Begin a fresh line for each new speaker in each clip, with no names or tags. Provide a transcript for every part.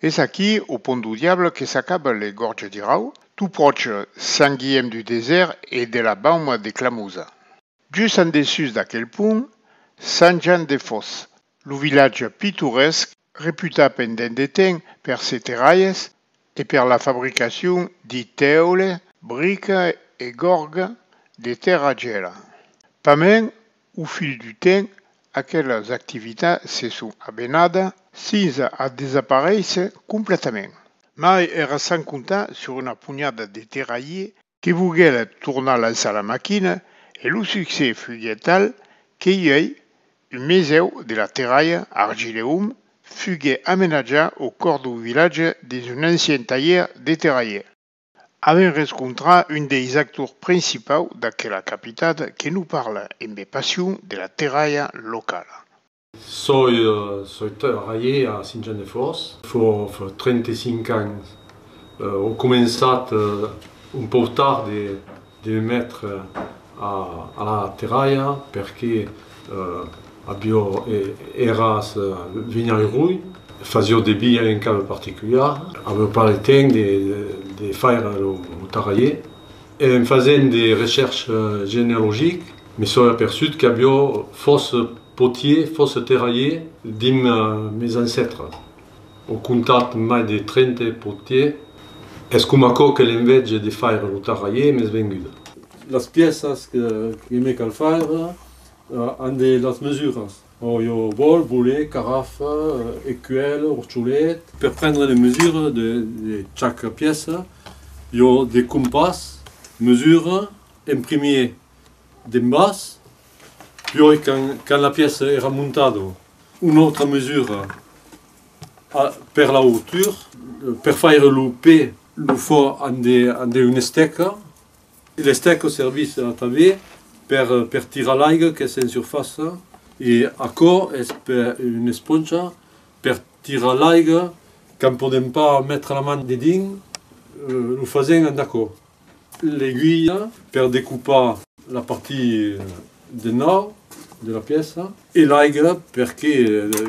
Es aquí au pont du diable que s'acaba le Gorge d'Irau, tout pròche Sant Guièm du Desèrt e de la Bauma de Clamosa. Just en dessús d'aquel pont, Sant Jan de Fòs, lo vilatge pitoresc Reputat pendent de temps per se terralhes e per la fabricacion de tèule, brica e gòrga de tèrra gela. Pament, au fil du temps, aquelas activitats se son abenadas fins a desaparéisser completament. Mai èra sans comptar sur una ponhada de terralhiers que voguèret tornar lançar la maquina e lo succès fuguèt tal que uèi un mesèu de la terralha Argileum fugue amenatjar au còr dau vilatge dins un ancien talhièr de terralhier. Avèm rescontrar un deis actors principau d'aquela capitat que nos parla embe passion de la terralha locala. Soi
trabalhè a Sint-Jean-de-Fòrç fò 35 ans. Ò començat un pòu tard de me metre a la terralha perque aviò eras vinhai rui, fasiò de bia en cave particuliar, aviò pas le temps de faire lo tarralhè. En fasent de recherches genealogiques me soi aperçut qu'aviò fòs. Potier fosse terralhier dim mes ancètres. Au comptat mai de trente potier. Es coma aquò que l'envège de faire lo tarralhier m'es venguda. Las pièças que me cal faire an de las mesuras. Ò jo vòl, vole, carafa, ecuèlh, orcholet. Per prendre les mesures de chac pièça, jo de compàs mesure en primier d'en bas Pioi quand, quand la pièça èra montada, una autra mesura a, per la hauteur, per faire lo pè, lo fò an de, an de una estèca e l'estèca servís tanben per, per tirar l'aiga qu'es en surfaça e aquò es pe, una esponcha per tirar l'aiga quand podèm pas metre la man dedins, lo fasèm amb d'aquò. l'aiguilha per decupar la partie de nòrd de la pièça e l'aiga perque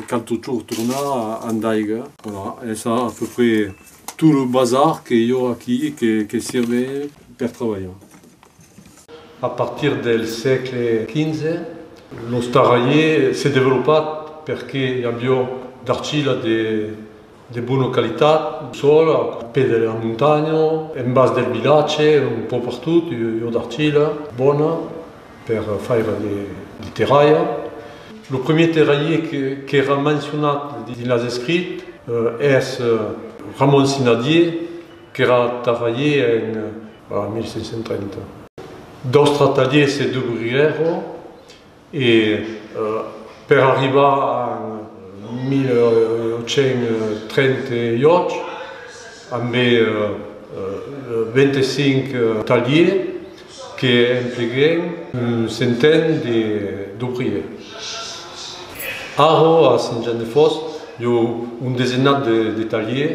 cal totjorn tornar a d'aiga. Voilà, es a peu près tot lo bazar que i ò aquí que sirve per trabalhar. A partir del sègle XV, lo starraier s'es developat perque i avió d'arcila de. De bona qualitat, sol, au pè de la montanha, en bas del vilatge, un pò pertot, ua d'argila bona per faire de terralha. Lo premier terralhier qu'èra mencionat dins las escrits es Ramon Sinadier, qu'èra terralhier en 1530. D'autres talhiers se dubrirèron E per arribar en 1838 ambé 25 talhiers que empleguèn un centèn d'obriers. Ara a Sint-Jan-de-Fòsses i a un desenat de talhiers.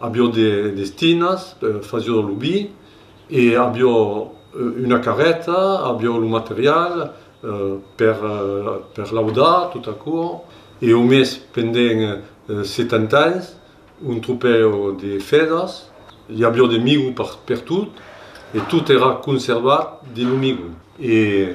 Avió de destinas, fasió de lo vi e avió una carreta, avió lo material per laudar tot aquò e au mes pendent 70 ans un tropèu de fèdas, i avió de migu pertot e tot èra conservat dins lo migu e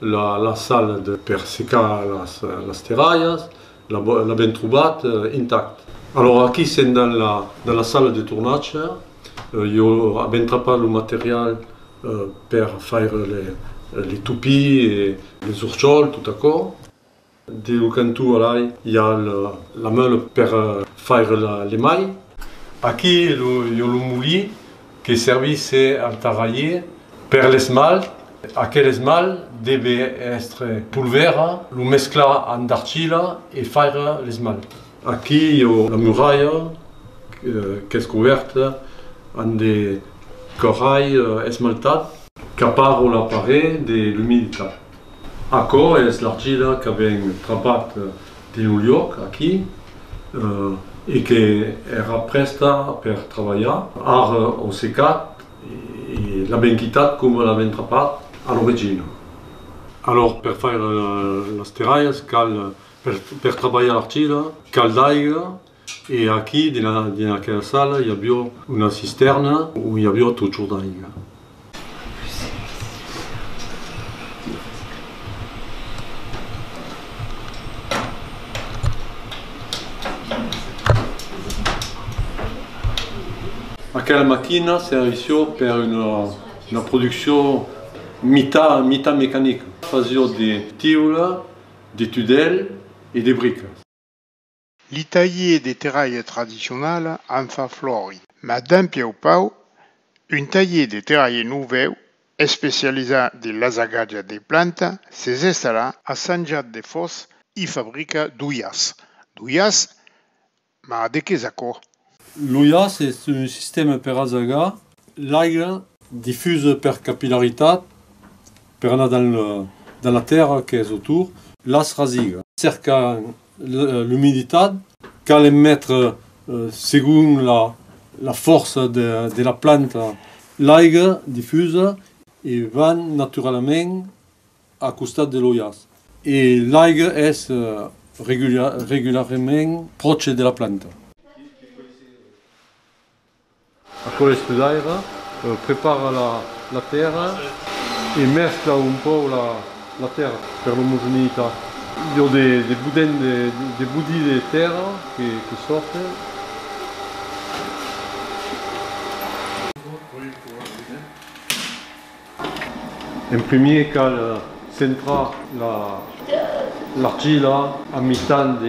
La sal per secar las terralhas, l'avèm trobat intact. Alòra aquí sèm dins la sala de tornatge, jo avèm trapat lo material per faire les toupies e les orchols tot aquò. Deu cantó alai i a la meula per faire le mai. Aquí i a lo molí que servisse al tarraier per l'esmalt. Aquel esmalt deve èstre polvèra, lo mesclar amb d'arcila e faire l'esmalt. Aquí o la muralha qu'es cobèrta amb de coralh esmaltat. Capar o la paret de l'umiditat. Aquò es l'argila qu'avèm trapat dins lo luòc aquí e que èra prèsta per trabalhar. Ara o secat e l'avèm quitat coma l'avèm trapat a l'origina. Alòr per faire las terralhas cal Per trabalhar l'argila cal d'aiga e aquí dins aquela sala i avió una cistèrna ont i avió totjorn d'aiga. Aquela maquina servissió per una produccion mitat mecanica. Fasió de tiula. de tudèl e de bricas. Li
talhier de terralha tradicionala an fa florida. Mas dempièu pauc, un talhier de terralha novèu, especializat de l'asagatge de planta, s'es estallat a Sanjat de Fòs, i fabrica d'uias. D'uias Mas de qué es aquò? Lo jaç
es un sistèma per asagar l'aiga difusa per capillaritat per anar dans la tèrra qu'es autour. Las rasigas cercan l'umiditat. Cal en metre segon la fòrça de la planta. L'aiga difusa e van naturalament a costat de lo jaç. E l'aiga es regularament pròche de la planta. Aquò estudaira, prepara la tèrra e mescla un pauc la tèrra per l'omogeneïtat. I a de budèn de budi de tèrra que sòrte. En primier cal centrar l'argila a mitat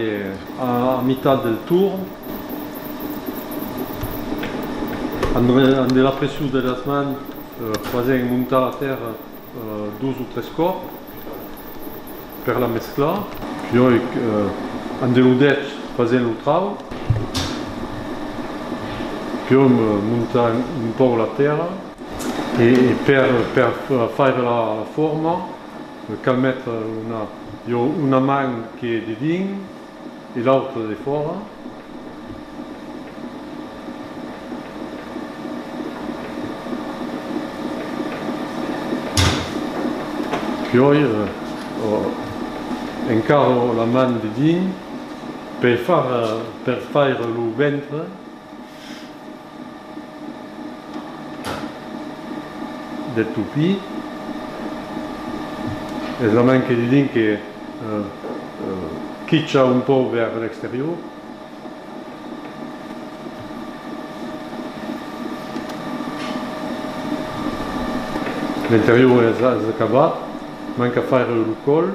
del torn amb de la pression de las mans fasent montar la tèrra dos o tres còp per la mesclar piòi amb de lo dech fasent lo trau piòi montant un pauc la tèrra. E per per faire la forma cal metre una jo una man que de dins e l'autre de fòra. Piòi encaro la man de dins per faire lo ventre. de Tupy es la manque de dinc que quicha un pauc vers l'exterior. L'interior es acabat, manca faire lo còl.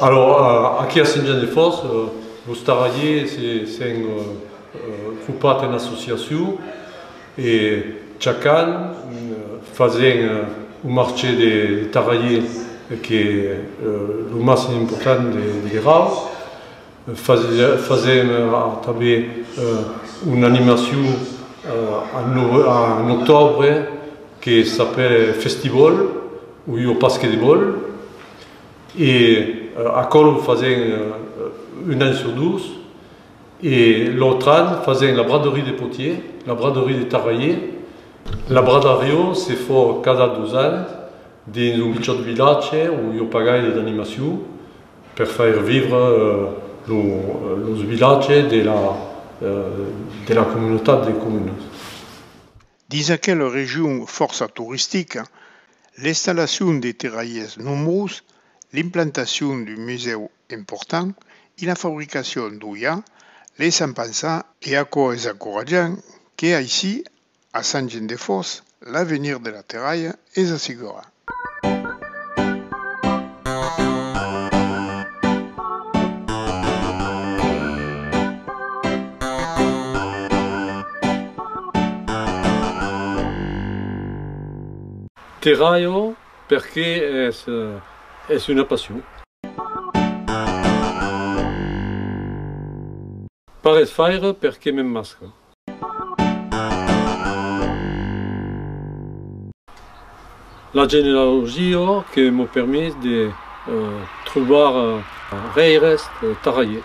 Alòra, aquí a Saint-Jean-de-Fòrç, los tarradiers s'èn cropat en associacion e chacun fasent un marché de tarradiers qu'es lo màssim important de Grau. Fasèm tanben una animacion en octòbre que s'apèl Festibòl o jo pasque de bòl e aquòl o fasèm un an sur dos e l'autre an fasèm la braderie de Potier, la braderie de Tarraier. La bradarion se fa cada dos ans dins un pichòt vilatge o jo pagai d'animacion. per faire vivre los vilatges de la comunautat de comunes.
Dins aquela region fòrça toristica, l'installacion de terralhers nombrós, l'implantacion d'un musèu important e la fabricacion d'oïa laissan pensar, e aquò es encoratjant, que aicí A Sangent-de-Fòrç, l'avenir de la terralha es assegurat.
Terralho perque es una passion. Parés faire perque m'emmasca. La genealogia que m'o permés de trobar rèires tarraiers.